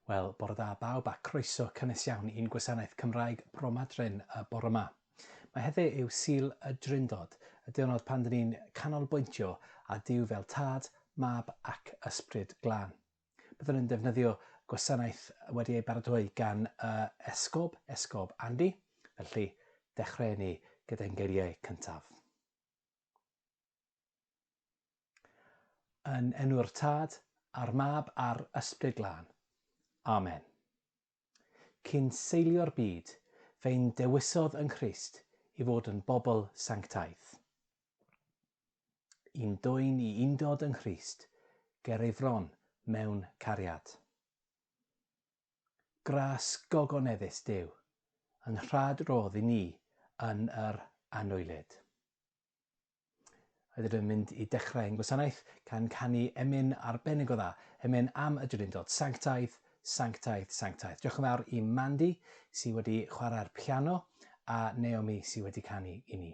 Wel, bore da bawb a croeso cynnes iawn i'n gwasanaeth Cymraeg Bromadrin y bore yma. Mae heddi yw Sil y Drindod, y diwrnod pan dyn ni'n canolbwyntio a Dyw fel tad, mab ac ysbryd glân. Byddwn yn defnyddio gwasanaeth wedi ei baratoi gan y Esgob, Esgob Andy, felly dechreu ni gyda'n geiriau cyntaf. Yn enw'r Tad, a'r Mab, a'r Ysbryd Glân. Amen. Cyn seilio'r byd, fe'n dewisodd yng Nghrist i fod yn bobl sanctaidd. Yn dwyn i undod yng Nghrist ger ei fron mewn cariad. Gras gogoneddus Duw, yn rhad rodd i ni yn yr anwylyd. Rydym yn mynd i dechrau ein gwasanaeth gan canu emyn arbennig o dda, emyn am y Drindod, Sanctaidd, Sanctaidd, Sanctaidd. Diolch yn fawr i Mandy sydd wedi chwarae'r piano a Naomi sydd wedi canu i ni.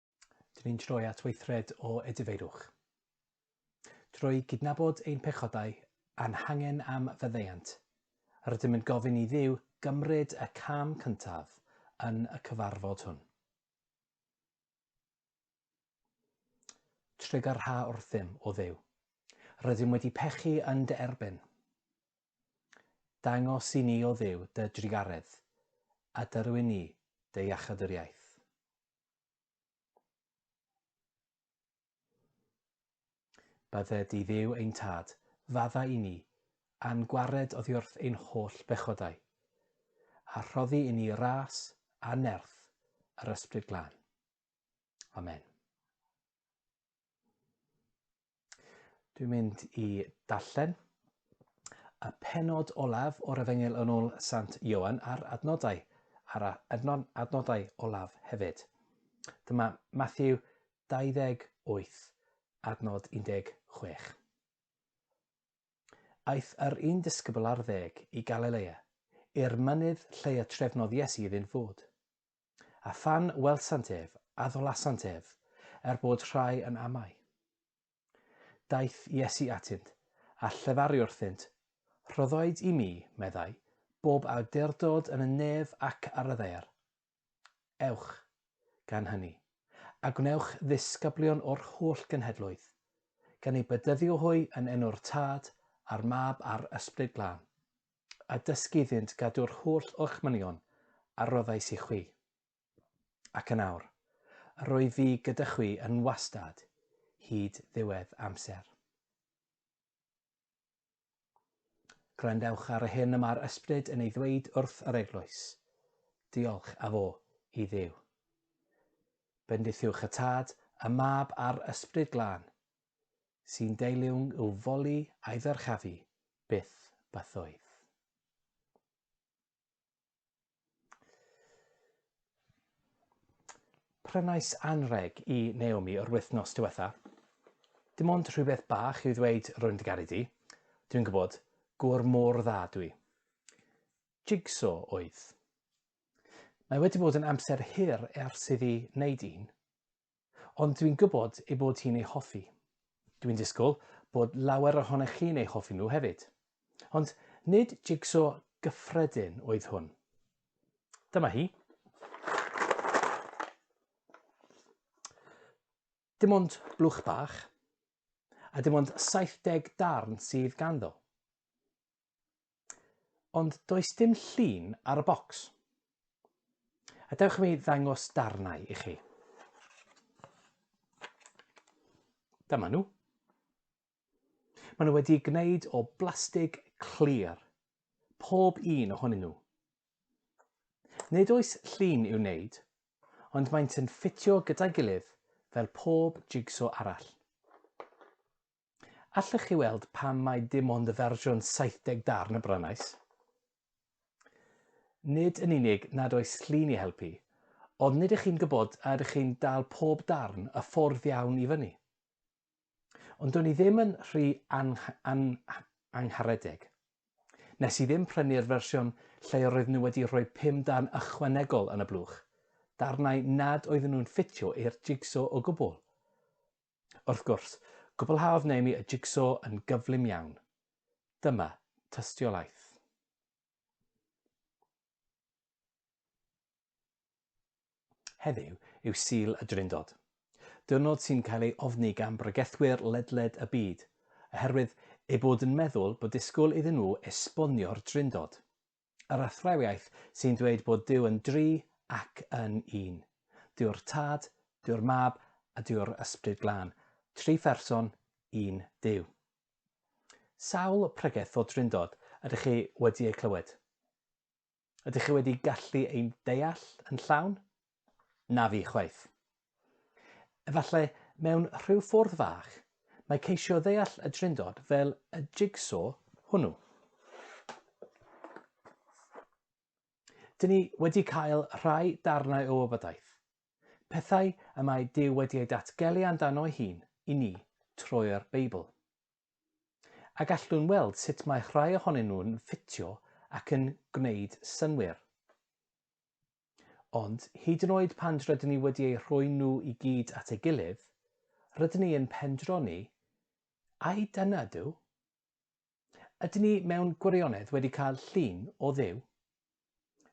Dyn ni'n troi at weithred o edifeirwch. Drwy gydnabod ein pechodau a'n hangen am faddeuant, rydym yn gofyn i Dduw gymryd y cam cyntaf yn y cyfarfod hwn. Trigger ha wrthym, o Dduw. Rydym wedi pechu yn dy erbyn. Dangos i ni, o Dduw, dy drugaredd, a dyrwyn ni dy iachadwriaeth. Bydde di Dduw ein Tad, fadda i ni, a'n gwared oddiwrth ein holl bechodau, a rhoddi i ni ras a nerth yr Ysbryd Glân. Amen. Dwi'n mynd i darllen y penod olaf o'r Efengyl yn ôl Sant Ioan a'r adnodau, a'r adnod, adnodau olaf hefyd. Dyma Matthew 28, adnod 16. Aeth yr un disgybl ar ddeg i Galilea, i'r mynydd lle y trefnodd Iesu iddynt fod. A phan welsant ef, addolasant ef, er bod rhai yn amau. Daeth Iesu atynt, a llefaru wrthynt, Rhoddoid i mi, meddai, bob awdurdod yn y nef ac ar y ddaear. Ewch, gan hynny, a gwnewch ddisgyblion o'r holl genhedloedd, gan eu bedyddio hwy yn enw'r Tad, a'r Mab, a'r Ysbryd Glân, a dysgu iddynt gadw'r holl orchmynion a roddais i chwi. Ac yn awr, yr oedd fi gyda chwi yn wastad, hyd ddiwedd amser. Gwrandewch ar y hyn y mae'r ysbryd yn ei ddweud wrth yr eglwys. Diolch a fo i ddiw. Bendithiwch y tad, y mab a'r ysbryd glân, sy'n deilwng i'w foli a'i ddyrchafu, byth bythoedd. Prynais anreg i Naomi o'r wythnos diwetha. Dim ond rhywbeth bach i'w ddweud rwy'n dy garu di. Dwi'n gwybod, gŵr mor dda dwi. Jigso oedd. Mae wedi bod yn amser hir ers iddi wneud un, Ond dwi'n gwybod ei bod hi'n ei hoffi. Dwi'n disgwyl bod lawer ohonoch chi'n ei hoffi nhw hefyd. Ond nid jigso gyffredin oedd hwn. Dyma hi. Dim ond blwch bach, a dim ond 70 darn sydd ganddo. Ond does dim llun ar y bocs. A dewch i mi ddangos darnau i chi. Dyma nhw. Maen nhw wedi gwneud o blastig clir, pob un ohonyn nhw. Nid oes llun i'w wneud, ond maent yn ffitio gyda'i gilydd fel pob jigso arall. Allech chi weld pam mae dim ond y fersiwn 70 darn y brynais? Nid yn unig nad oes llun i helpu, ond nid ych chi'n gwybod a ydych chi'n dal pob darn y ffordd iawn i fyny. Ond do'n i ddim yn rhy angharedig. Nes i ddim prynu'r fersiwn lle roedd nhw wedi rhoi pum darn ychwanegol yn y blwch, darnau nad oedden nhw'n ffitio i'r jigsaw o gwbl. Wrth gwrs, cwblhaodd Naomi y jigso yn gyflym iawn. Dyma tystiolaeth. Heddiw yw Sul y Drindod, diwrnod sy'n cael ei ofni gan bregethwyr ledled y byd, oherwydd eu bod yn meddwl bod disgwyl iddyn nhw esbonio'r Drindod. Yr athrawiaeth sy'n dweud bod Duw yn dri ac yn un. Duw'r Tad, Duw'r Mab a Duw'r Ysbryd Glân. Tri pherson, un Duw. Sawl pregeth o Drindod ydych chi wedi eu clywed? Ydych chi wedi gallu ein deall yn llawn? Na fi chwaith. Efallai mewn rhyw ffwrdd fach, mae ceisio ddeall y drindod fel y jigsaw hwnnw. Dyn ni wedi cael rhai darnau o wybodaeth, pethau y mae Duw wedi ei datgelu amdano ei hun i ni trwy'r Beibl. A gallwn weld sut mae rhai ohonyn nhw'n ffitio ac yn gwneud synnwyr. Ond, hyd yn oed pan rydyn ni wedi eu rhoi nhw i gyd at ei gilydd, rydyn ni yn pendroni, Ai dyna Duw? Ydyn ni mewn gwirionedd wedi cael llun o Dduw?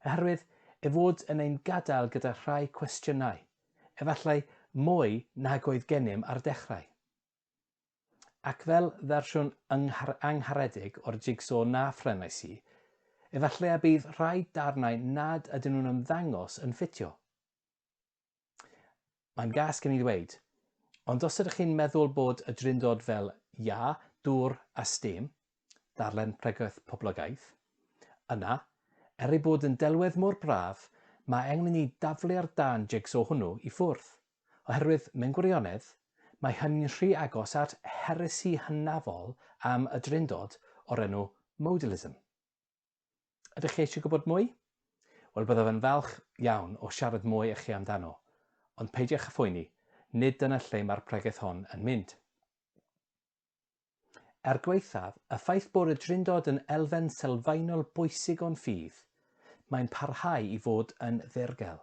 Oherwydd ei fod yn ein gadael gyda rhai cwestiynau, efallai mwy nag oedd gennym ar y dechrau. Ac fel fersiwn angharedig o'r jigso na phrenais i, efallai y bydd rhai darnau nad ydyn nhw'n ymddangos yn ffitio. Mae'n gas gen i ddweud, ond os ydych chi'n meddwl bod y drindod fel iâ, dŵr a stêm, darllen Pregaeth Poblogaidd, yna, er ei bod yn delwedd mor braf, mae angen i ni daflu'r darn jigso hwnnw i ffwrdd. Oherwydd, mewn gwirionedd, mae hynny'n rhy agos at heresi hynafol am y Drindod o'r enw Modalism. Ydych chi eisiau gwybod mwy? Wel, byddaf yn falch iawn o siarad mwy â chi amdano, ond peidiwch â phoeni, nid dyna lle mae'r pregeth hon yn mynd. Er gwaethaf y ffaith bod y Drindod yn elfen sylfaenol bwysig o'n ffydd, mae'n parhau i fod yn ddirgel.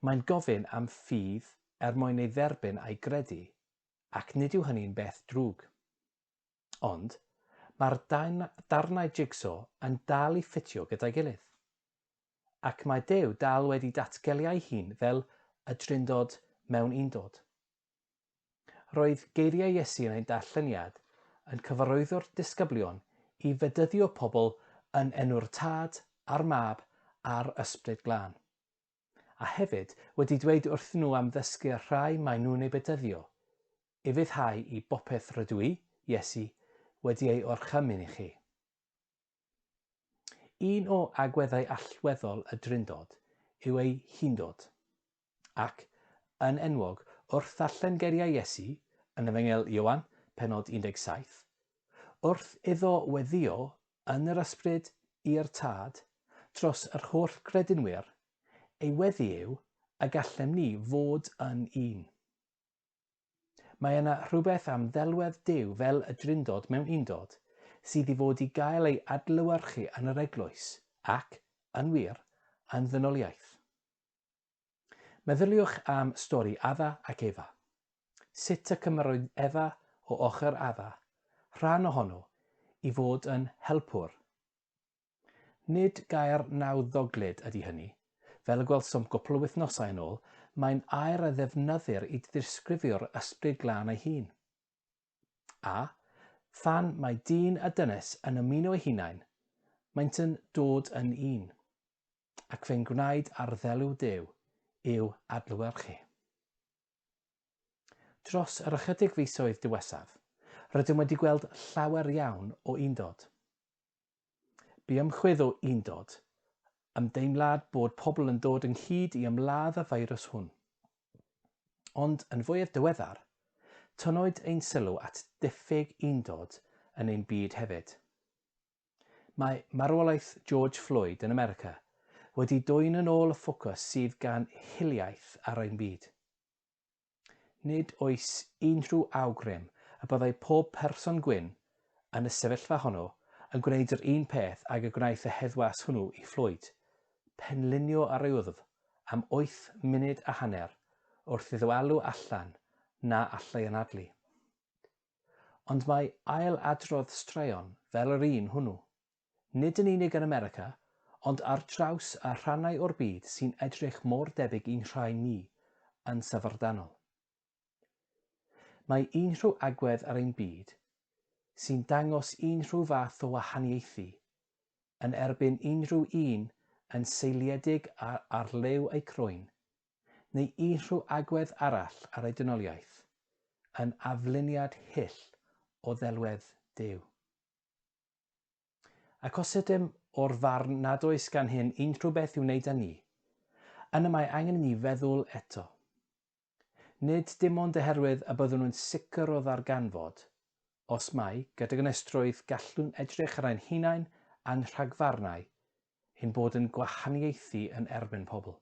Mae'n gofyn am ffydd er mwyn ei dderbyn a'i gredu, ac nid yw hynny'n beth drwg. Ond, mae'r darnau jigso yn dal i ffitio gyda'i gilydd. Ac mae Duw dal wedi datgelu ei hun fel y Drindod mewn Undod. Roedd geiriau Iesu yn ein darlleniad yn cyfarwyddo'r disgyblion i fedyddio pobl yn enw'r Tad, a'r Mab, a'r Ysbryd Glân. a hefyd wedi dweud wrthyn nhw am ddysgu y rhai maen nhw'n eu bedyddio, ufuddhau i bopeth rydw i, Iesu, wedi ei orchymyn i chi. Un o agweddau allweddol y Drindod yw ei hundod. Ac, yn enwog, wrth ddarllen geiriau Iesu yn Efengyl Ioan, pennod 17, wrth iddo weddio yn yr ysbryd i'r Tad dros yr holl gredinwyr, ei weddi yw y gallem ni fod yn un. Mae yna rhywbeth am ddelwedd Duw fel y Drindod mewn Undod sydd i fod i gael ei adlewyrchu yn yr Eglwys ac, yn wir, yn ddynoliaeth. Meddyliwch am stori Adda ac Efa. Sut y cymerodd Efa o ochr Adda, rhan ohono, i fod yn helpwr. Nid gair nawddoglyd ydy hynny. Fel y gwelsom gwpl o wythnosau yn ôl, mae'n air a ddefnyddir i ddisgrifio'r Ysbryd Glân ei hun. A, phan mae dyn a dynes yn ymuno eu hunain, maent yn dod yn un. ac fe'n gwnaed arddelw Duw i'w adlewyrchu. Dros yr ychydig fisoedd diwesaf, rydym wedi gweld llawer iawn o undod. Bu ymchwydd o undod, ymdeimlad bod pobl yn dod ynghyd i ymladd y feirws hwn. Ond yn fwyaf diweddar, tynnwyd ein sylw at diffyg undod yn ein byd hefyd. Mae marwolaeth George Floyd yn America wedi dwyn yn ôl y ffocws sydd gan hiliaeth ar ein byd. Nid oes unrhyw awgrym y byddai pob person gwyn yn y sefyllfa honno yn gwneud yr un peth ag y gwnaeth y heddwas hwnnw i Floyd, penlinio ar ei wddf am wyth munud a hanner wrth iddo alw allan na allai anadlu. Ond mae ail-adrodd straeon fel yr un hwnnw, nid yn unig yn America, ond ar draws y rhannau o'r byd sy'n edrych mor debyg i'n rhai ni, yn syfrdanol. Mae unrhyw agwedd ar ein byd sy'n dangos unrhyw fath o wahaniaethu yn erbyn unrhyw un yn seiliedig ar liw eu croen neu unrhyw agwedd arall ar ei dynoliaeth, yn afluniad hyll o ddelwedd Duw. Ac os ydym o'r farn nad oes gan hyn unrhyw beth i'w wneud â ni, yna mae angen i ni feddwl eto. Nid dim ond oherwydd y byddwn yn sicr o ddarganfod, os mai gydag ynestrwydd gallwn edrych ar ein hunain a'n rhagfarnau, ein bod yn gwahaniaethu yn erbyn pobl.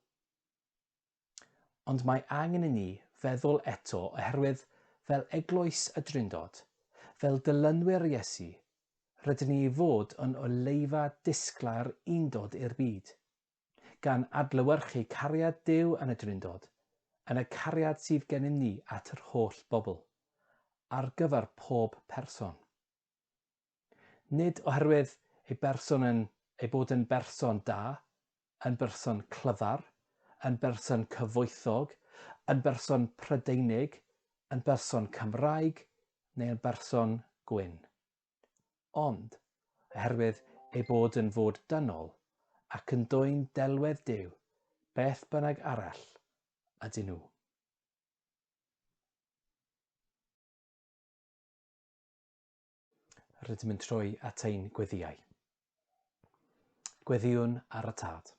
Ond mae angen i ni feddwl eto oherwydd fel Eglwys y Drindod, fel dilynwyr Iesu, rydyn ni i fod yn oleufa disglair undod i'r byd, gan adlewyrchu cariad Duw yn y Drindod, yn y cariad sydd gennym ni at yr holl bobl, ar gyfer pob person. Nid oherwydd ei berson yn ei bod yn berson da, yn berson clyfar, yn berson cyfoethog, yn berson Prydeinig, yn berson Cymraeg neu yn berson gwyn. Ond oherwydd ei bod yn fod dynol ac yn dwyn delwedd Duw beth bynnag arall ydyn nhw. Rydym yn troi at ein gweddiau. Gweddiwn ar y tad.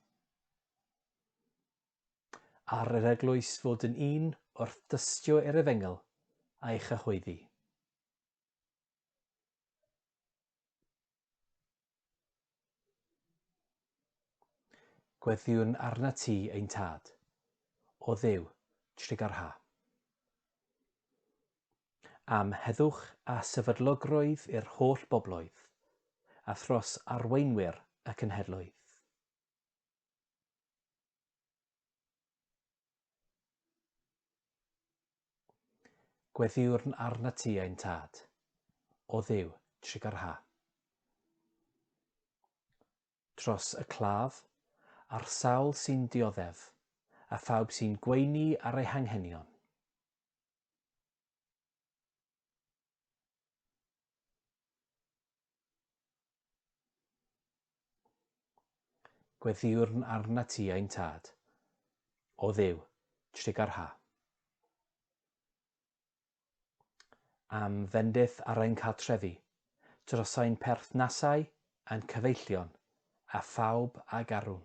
Ar yr eglwys fod yn un wrth dystio er efengl a'i chyhoeddi. Gweddïwn arnat ti, ein Tad. O Dduw, trigar ha. Am heddwch a sefydlogrwydd i'r holl bobloedd, a thros arweinwyr y cenhedloedd. Gweddïwrn arna ti ein tad, o Dduw, trigar ha. Tros y claf, a'r sawl sy'n dioddef, a phawb sy'n gweini ar ei hanghenion. Gweddiwrn arna ti ein tad, o dduw, trigar ha. Am fendith ar ein cartrefi, dros ein perthnasau, ein cyfeillion, a phawb a garwn.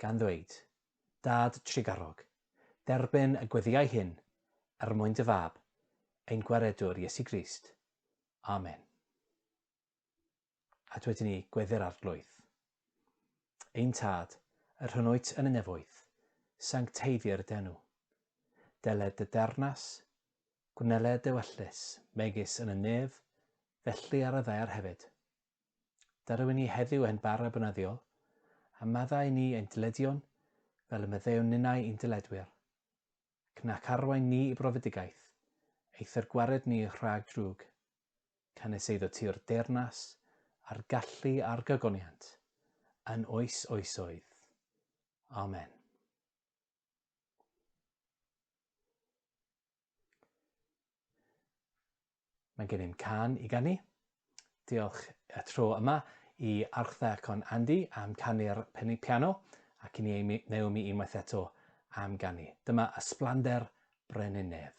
gan ddweud, Dad trugarog, derbyn y gweddïau hyn er mwyn dy Fab, ein Gwaredwr Iesu Grist. Amen. A dwedyn ni gweddi'r arglwydd. Ein Tad, yr hyn wyt yn y nefoedd, sancteiddir denw. Deled dy dernas, gwneled dy wellus, megis yn y nef, felly ar y ddaear hefyd. Darwyn ni heddiw ein bara bynyddiol, a maddau ni ein dyledion fel y meddewn ninnau i'n dyledwyr, ac nac arwain ni i brofedigaeth, eithr gwared ni rhag drwg. Canys eiddo ti'r deyrnas, a'r gallu a'r gogoniant, yn oes oesoedd. Amen. Mae gennym can i ganu. Diolch y tro yma i Archtha Con Andy am canu'r piano ac i ni Naomi unwaith eto am ganu. Dyma Ysblander Brenin Nedd.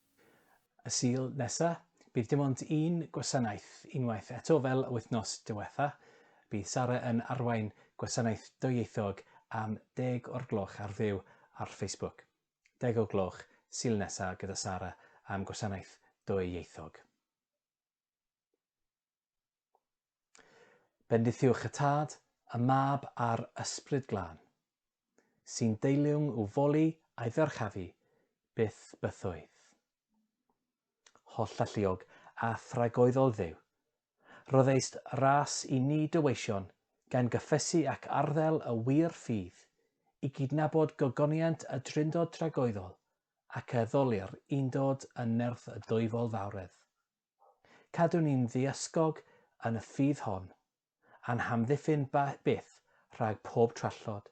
Y Sul nesa, bydd dim ond un gwasanaeth unwaith eto fel y wythnos diwetha. Bydd Sara yn arwain gwasanaeth dwyieithog am deg o'r gloch ar fyw ar Facebook. Deg o gloch, Sul nesa gyda Sara am gwasanaeth dwyieithog. Bendithiwch y Tad, y Mab a'r Ysbryd Glân, sy'n deiliwng i'w foli a'i ddyrchafu byth bythoedd. Holl alluog a thragoeddol Dduw, roddeist ras i ni dy weision gan gyffesu ac arddel y wir ffydd, i gydnabod gogoniant y Drindod tragoeddol ac addoli'r Undod yn nerth y Dwyfol Fawredd. Cadwn ni'n ddiysgog yn y ffydd hon, a'n hamddiffyn byth rhag pob trallod,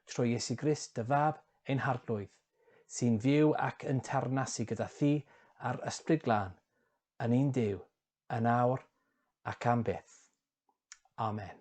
trwy Iesu Grist dy Fab, ein Harglwydd, sy'n fyw ac yn teyrnasu gyda thi a'r Ysbryd Glân, yn un Duw, yn awr ac am byth. Amen.